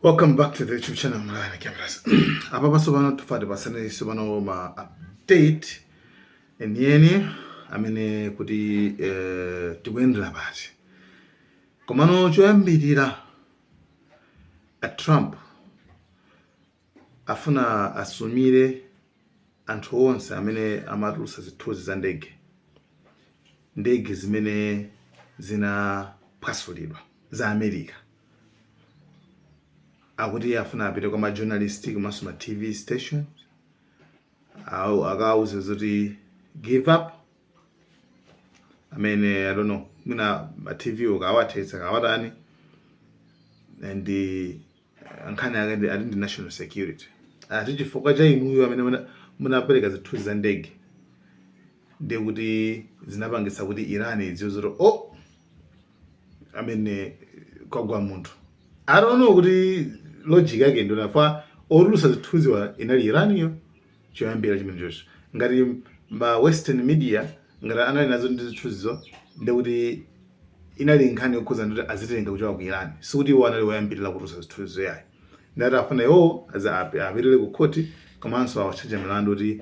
welcome back to the youtube channel Mlaka Maliro apa pasopano tufuna tipatsane tsopano ma update enieni amene kuti eh, tikuyendera pati komano choyambirira a trump afuna asumire anthu onse amene amatulutsa zithunzi za ndege ndege zimene zinaphwasulidwa za America akuti afuna apite kwa ma journalist komanso ma TV station akawauze zoti give up amene I don't know mwina ma TV ukawathetsa kawatani and nkhani yake ndi ati ndi national security ati chifukwa cha inuyo amene muna- munapereka zithunzi za ndege ndiye kuti zinapangitsa kuti iran idziwe zoti o amene kwagwa munthu I don't know kuti logic yake ndionafa otulutsa zithunziwa inali iraniyo choyambirira chimenechocho ngati ma western media ngati anali nazo ndi zithunzizo ndikuti inali nkhani yokhuza ndikuti azitenga kuchoka ku iran sikuti iwo anali woyambirira kutulutsa zithunzizo yayi ndati afuna iwowo aza- api- apite ku khoti komanso awatchaja milandu kuti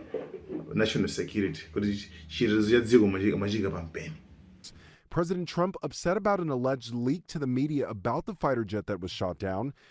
national security kuti chitetezo cha dziko mwachi- mwachika pa mpeni President Trump upset about an alleged leak to the media about the fighter jet that was shot down.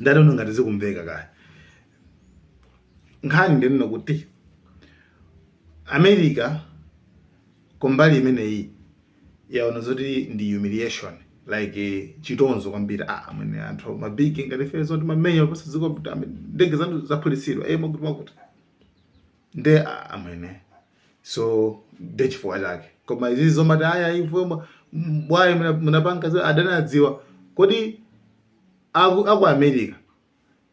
I don't know ngati zikumveka kaya nkhani ndi yonena kuti america kumbali imeneyi yaona zoti ndi humiliation like eh, chitonzo kwambiri ah amene anthu ma big mmati feel zoti mamenya dziko kuti ame- ndege zanu zaphulitsidwa eh zakuti zakuti nde ah, amene so nde chifukwa chake koma izi zomati ayi inu bwanji munapanga zoti adani adziwa kodi a ku America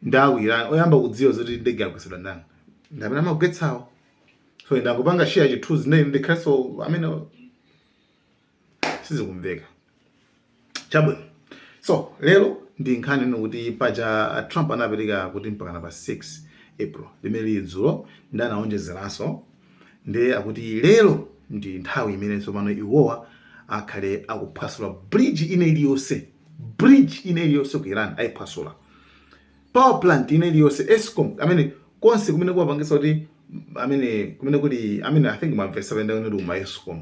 ndi aku iran oyamba kudziwa zoti ndege yagwetsedwa ndani ndi amene amagwetsawo so ndangopanga share chithunzi ndiye ndikhalenso amene sizikumveka chabwino so lero ndi nkhani yonena kuti paja trump anapereka kuti mpakana pa 6 april limene lili dzulo ndi anaonjezeranso Ndiye akuti lero ndi nthawi imene tsopano iwowa akhale akuphwasula bridge ina iliyonse bridge ina iliyonse ku Iran ayiphwasula power plant ina iliyonse Eskom amene konse kumene kukupangitsa kuti amene kumene kuli amene I think mwamvesa penda unali ku Eskom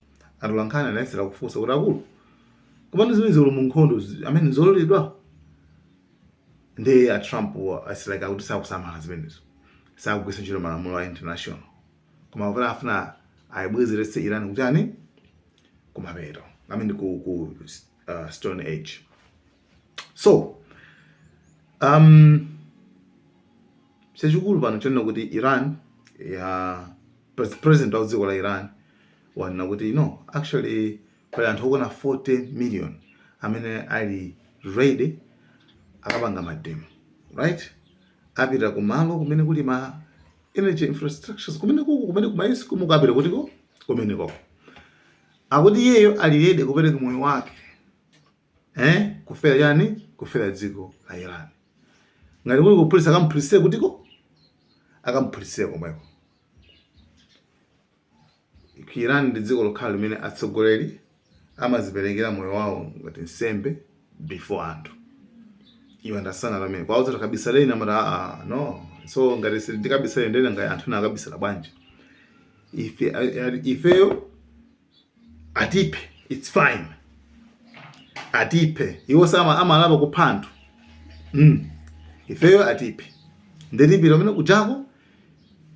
Atolankhani anayesera kufunsa kuti, Akulu, komano zimenezi olo mu nkhondo zi- amene nzololedwa? Ndiye a Trump still akuti sakusamala zimenezo. Sakugwiritsa ntchito malamulo a international. Koma kuti afuna ayibwezeretse Iran kutani? Kumapeto. I mean ku, ku uh, Stone Age. so um, chachikulu pano chonena kuti iran ya president wa kudziko la iran wanena kuti no actually pali anthu okwana 40 million amene ali ready akapanga mademo right apite kumalo kumene kuli ma energy infrastructures kumene kuku kumene kumaisi kumukapita kutiko kumene koko akuti iyeyo ali ready kupereka moyo wake eh kufera chani kufera dziko la Iran ngati kuli kuphulitsa akamphulitsire kutiko akamphulitsire komweko Iran ndi dziko lokhali limene atsogoleri amaziperekera moyo wawo ngati nsembe before anthu you understand what I mean akawauza takabisaleni amati aa ah, ah, no so ngati sindikabisale ndiye ngati anthu nakabisala bwanji ife ifeyo atiphe its fine atiphe iwo samalapa kupha anthu mm. ifeyo atiphe nde tipita kumene kuchako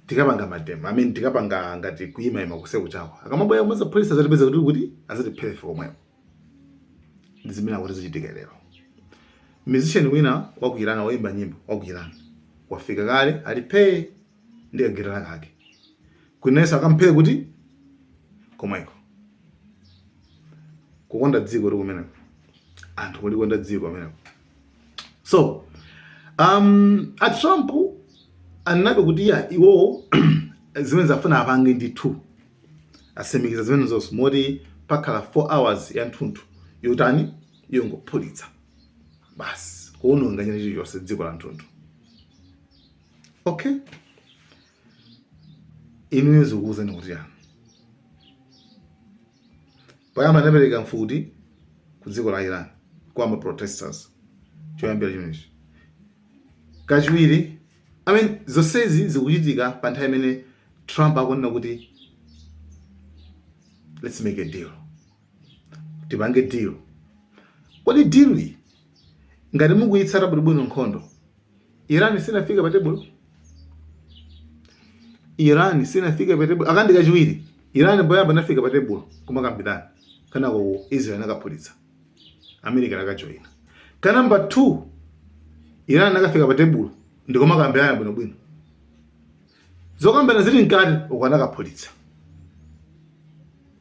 tikapanga mademo i mean tikapanga ngati kuyimayima kuse kuchako akamabwera kumwe zapolisi azatipeza kuti kuti azatiphere ife komweko ndi zimene akuti zichitike lero musician wina wa ku iran woyimba nyimbo wa ku iran wafika kale ali phee ndi kagitala kake kuti nayenso akamphere kuti komweko kukonda dziko ndi kumeneko anthu kulikonda dziko kumeneko so um, a trump ananena kuti ya iwowo zimene zafuna apange ndithu atsimikiza zimene zonse moti pakhala 4 hours ya nthunthu yotani yongophulitsa basi kuononga china chilichonse dziko la nthunthu okay inuyo zikuwuzani kuti chani poyamba anapereka mfuti ku dziko la iran kwa ma protesters choyambira chimenechi kachiwiri i mean zonsezi zikuchitika pa nthawi imene trump akunena kuti let's make a deal tipange deal kodi deal iyi ngati mukuyitsata bwinobwino nkhondo iran sinafike pa tebulo iran sinafike pa tebulo aka ndi kachiwiri iran poyamba inafika pa tebulo kumakambirana kanako israel anakaphulitsa america anakajoyina ka number 2 iran anakafika pa tebulo ndikumakambirana bwinobwino zokambirana zili mkati uko anakaphulitsa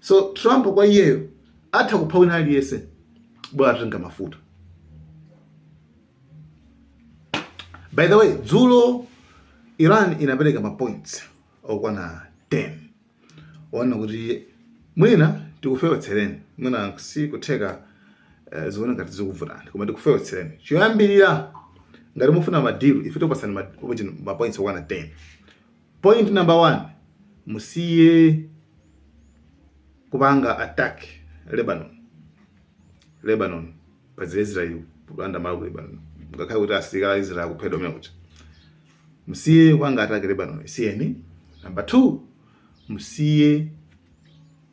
So Trump kwa iyeyo atha kupha wina aliyense bora atatenga mafuta. By the way, dzulo Iran inapereka ma points okwana 10 onena kuti mwina tikufewetsereni mwina si kutheka eh, zione ngati zikuvutani koma tikufewetsereni choyambirira ngati mufuna madiru ife tikupatsani ma- ma points okwana 10 Point number one, musiye kupanga attack Lebanon. Lebanon paja Israel kulanda malo ku Lebanon. Ngakhale kuti asilikali a Israel akuphedwa mmene kuti. Musiye kupanga attack Lebanon. Siyeni. Number two, musiye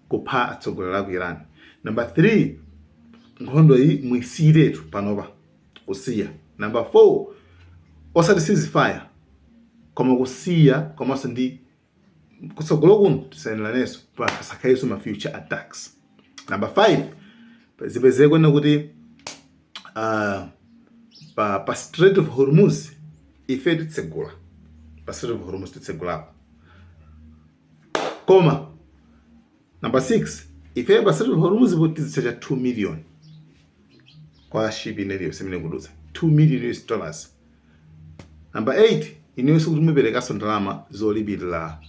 kupha atsogoleri a ku Iran. Number three, nkhondo iyi muisiyiretu panopa. kusiya. Number 4, osati ceasefire, koma kusiya komanso ndi kutsogolo kuno tisamenyanenso pasakhalenso ma future attacks. Number 5, zipezeke kunena kuti uh, pa, pa Strait of Hormuz ife titsegula pa Strait of Hormuz titsegulapo koma Number 6 ifeyo pa Strait of Hormuz po tizitchaja 2 million kwa ship ina iliyonse imene ikudutsa 2 million US dollars. Number 8 inuyo sikuti muperekanso ndalama zolipirira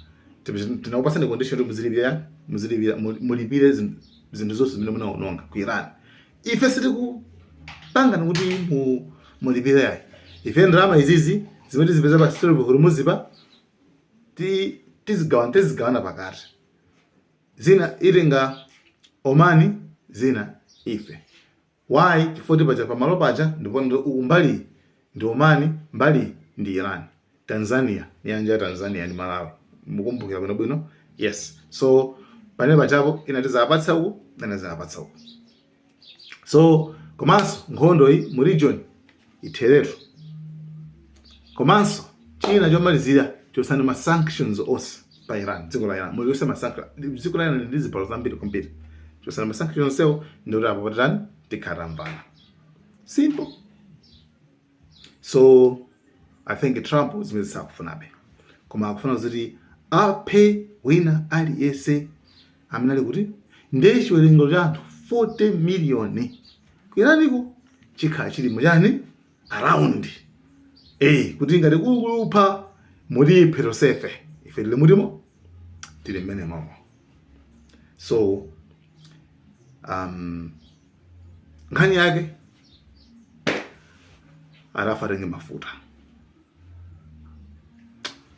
tinakupatsani condition kuti muzilipira muzilipira mulipire zinthu zonse zimene munaononga ku Iran. Ife sitikupanga kuti mu mulipire yayi ife ndalama izi zimene tizipeza pa Strait of Hormuz pa ti- tizigawana tizigawana pakati zina itenga Oman zina ife why chifukwa paja pamalo paja ndipo uku mbali iyi ndi Oman mbali iyi ndi Iran Tanzania nyanja ya Tanzania ndi Malawi mukumbukira bwino bwino yes so panenepa pajapo ina tizawapatsa uku ina tizawapatsa uku so komanso nkhondo iyi mu region itheretu komanso china chomalizira chotsani ma sanctions onse pa iran dziko la iran muli ma sanction dziko la iran ndi zilango zambiri kwambiri chotsani ma sanction onsewo ndikuti apo patitani tikhala tamvana simple so i think trump zimenezo sakufunabe koma akufuna kuti aphe wina aliyense amene ali kuti ndiye chiwerengero cha anthu 40 miliyoni ku Iran ko chikhala chili mu chani around eyi kuti ngati kuli kutipha mutiphe tonsefe ife tili mutimo tili mmene momo so um, nkhani yake akufuna atenge mafuta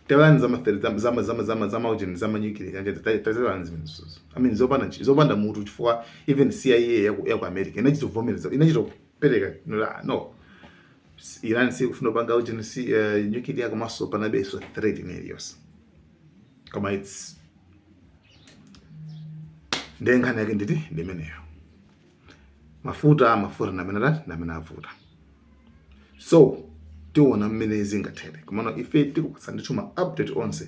tewani zama zama zama zama zama ujeni zama nyukile kanje tazionani zimenezo i mean zopanda zopanda mutu chifukwa even CIA ya ku ya ku America inachita vomereza inachita kupereka nula no Iran sikufuna kupanga ujeni si uh, nyukile ya komanso panabe so threat in areas koma it's ndiye nkhani yake ndithu ndimeneyo mafuta mafuta ndi amene tati ndi amene avuta so tiona mmene zingathere komano ife tikupatsani ndithu ma update onse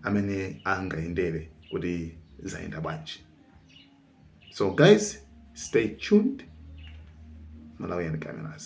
amene angayendere kuti zayenda bwanji so guys stay tuned malawian cameras